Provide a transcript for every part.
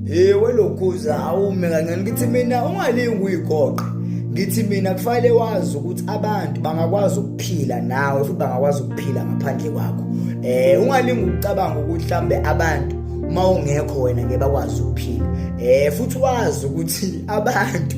Ewe lokhuza awume kancane ngithi mina ungalingi uyigoqa ngithi mina kufanele wazi ukuthi abantu bangakwazi ukuphila nawe futhi bangakwazi ukuphila ngaphandle kwakho eh ungalingi ukucabanga ukuthi mhlambe abantu uma ungekho wena ngeke bakwazi ukuphila eh futhi wazi ukuthi abantu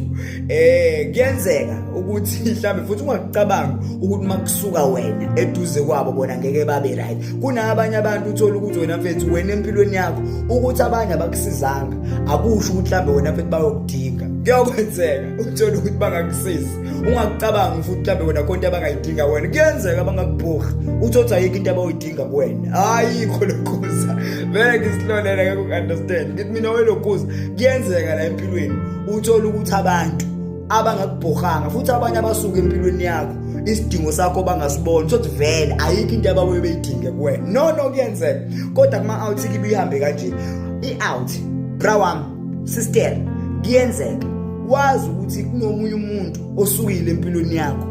eh kuyenzeka ukuthi mhlambe futhi ungacabanga ukuthi makusuka wena eduze kwabo bona ngeke babe right kunabanye abantu uthola ukuthi wena mfethu wena empilweni yakho ukuthi abanye abakusizanga akusho ukuthi mhlambe wena mfethu bayokudinga kuyokwenzeka uthole ukuthi bangakusizi ungakucabanga futhi mhlambe wena konke abangayidinga wena kuyenzeka bangakubhorha uthothi ayikho into abayidinga kuwena ayikho lokhuza vele ngisilolela ngeke uku-understand ngithi mina welokuza kuyenzeka la empilweni uthole ukuthi abantu abangakubhorhanga futhi abanye abasuke empilweni yakho isidingo sakho bangasiboni sothi vele ayikho into ababuye beyidinge kuwena no no kuyenzeka kodwa kuma-out kibe ihambe kanje i-out bra wami sister kuyenzeka wazi ukuthi kunomunye umuntu osukile empilweni yakho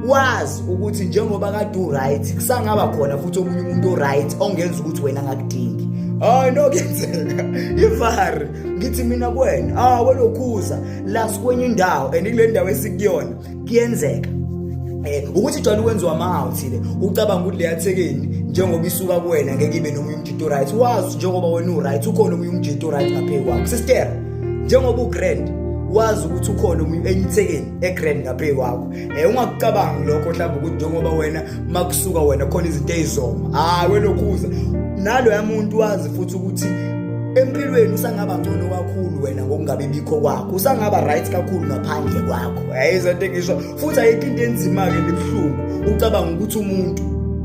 wazi ukuthi njengoba kade uright kusangaba khona futhi omunye umuntu oright ongenza ukuthi wena angakudingi hayi no kuyenzeka ivari ngithi mina kuwena ah welokhuza la sikwenye indawo and kule ndawo esikuyona kuyenzeka eh ukuthi jwayele ukwenziwa amahawu thile ucabanga ukuthi leya thekeni njengoba isuka kuwena ngeke ibe nomunye umjito right wazi njengoba wena u right ukhona omunye umjito right ngaphe kwakho sister njengoba u grand wazi ukuthi ukhona omunye enyithekeni e grand ngaphe kwakho Eh ungakucabangi lokho mhlawumbe ukuthi njengoba wena makusuka wena khona izinto ezizoma. Hayi welokhuza. Nalo yamuntu wazi futhi ukuthi empilweni usangaba ngcono kakhulu wena ngokungabi bikho kwakho usangaba right kakhulu ngaphandle kwakho ayizonto engisho futhi ayikho into enzima-ke libuhlungu ucabanga ukuthi umuntu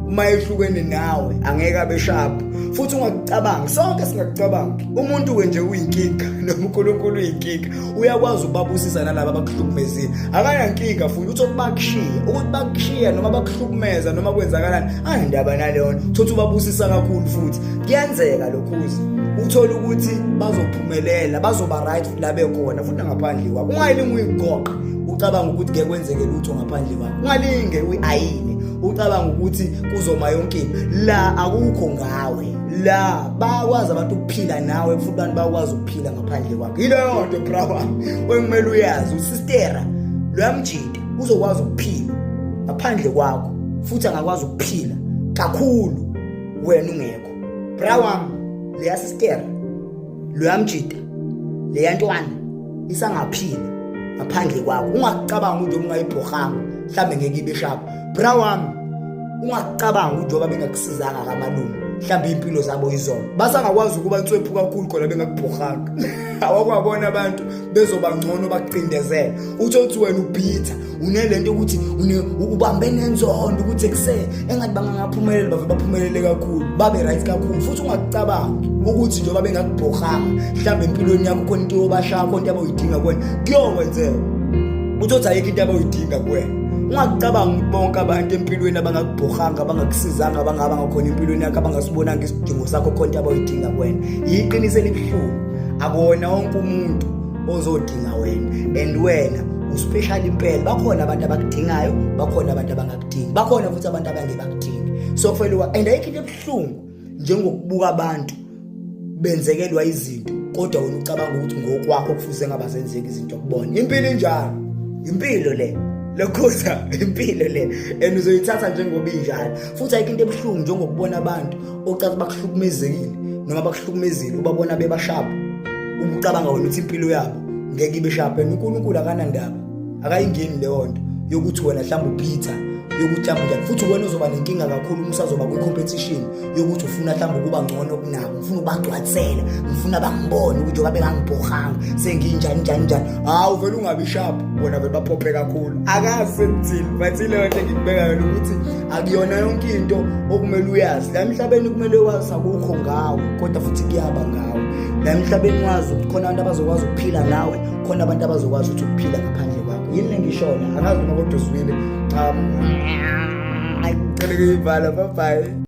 uma ehlukene nawe angeke abe sharp futhi ungakucabangi sonke singakucabangi umuntu-ke nje uyinkinga nonkulunkulu uyinkinga uyakwazi ukubabusisa nalaba abakuhlukumezile akanankinga futhi uthi okubakushiya ukuthi bakushiya noma bakuhlukumeza noma kwenzakalani anendaba naleyo nto thothi ubabusisa kakhulu futhi kuyenzeka lokhuzi uthole ukuthi bazophumelela bazoba right la bekhona futhi nangaphandle kwakho ungayilingi uyigoqe ucabanga ukuthi ngeke kwenzeke lutho ngaphandle kwakho ungalinge uyi-ayine ucabanga ukuthi kuzoma yonke into la akukho ngawe la bakwazi abantu ukuphila nawe futhi abantu bakwazi phila ngaphandle kwakhe yileyo nto bra wami okumele uyazi usistera loyamjita uzokwazi ukuphila ngaphandle kwakho futhi angakwazi ukuphila kakhulu wena ungekho bra wami leya sistera loyamjita leya ntwana isangaphila ngaphandle kwakho ungacabanga ukuthi ungayibhohanga mhlambe ngeke ibe shapha bra wami ungacabanga ukuthi njengoba bengakusizanga kamalungu mhlawumbe impilo zabo izona basangakwazi ukuba nswephu kakhulu khona bengakubhorhanga awakwabona abantu bezoba ngcono bakucindezela utho ukuthi wena uphitha unele nto ukuthi ubambe nenzondo ukuthi ekuseni engathi bangangaphumeleli bave baphumelele kakhulu babe right kakhulu futhi ungakucabangi ukuthi njengoba bengakubhorhanga mhlawumbe empilweni yakho khona into yobashaya khona into abayidinga kwena kuyokwenzeka uthi othi ayikho into abayidinga kuwena ungakucabangi bonke abantu empilweni abangakubhorhanga abangakusizanga abangaba ngakhona empilweni yakho abangasibonanga isidingo sakho khona into abayidinga kwena yiqiniso elibuhlungu akuwona wonke umuntu ozodinga wena and wena uspecial impela bakhona abantu abakudingayo bakhona abantu abangakudingi bakhona futhi abantu abangeke bakudingi so kufanele and ayikho into ebuhlungu njengokubuka abantu benzekelwa izinto kodwa wena ucabanga ukuthi ngokwakho kufuze ngaba zenzeka izinto kubona impilo injalo impilo le lokhuza impilo le and uzoyithatha njengoba injalo futhi ayikho into ebuhlungu njengokubona abantu ocathi bakuhlukumezekile noma bakuhlukumezile ubabona bebashapha ubucabanga wena ukuthi impilo yabo ngeke ibe shapha and uNkulunkulu akanandaba akayingeni leyo nto yokuthi wena mhlawumbe uphitha yokuthi mhlawumbe njani futhi wena uzoba nenkinga kakhulu uma usazoba kwi-competition yokuthi ufuna mhlawumbe ukuba ngcono kunabo ngifuna ubagcwatsela ngifuna bangibone ukuthi oba bengangibhohanga senginjani njani njani hawu vele ungabi sharp bona vele baphophe kakhulu akazi sekuthini but ileyo nto engikubeka yona ukuthi akuyona yonke into okumele uyazi la emhlabeni kumele wazi akukho ngawo kodwa futhi kuyaba ngawo la emhlabeni wazi ukuthi khona abantu abazokwazi ukuphila nawe khona abantu abazokwazi ukuthi ukuphila ngaphandle kwakho yini lengishona angazi noma kodwa uzwile um ayi ngicela kuyivala bye bye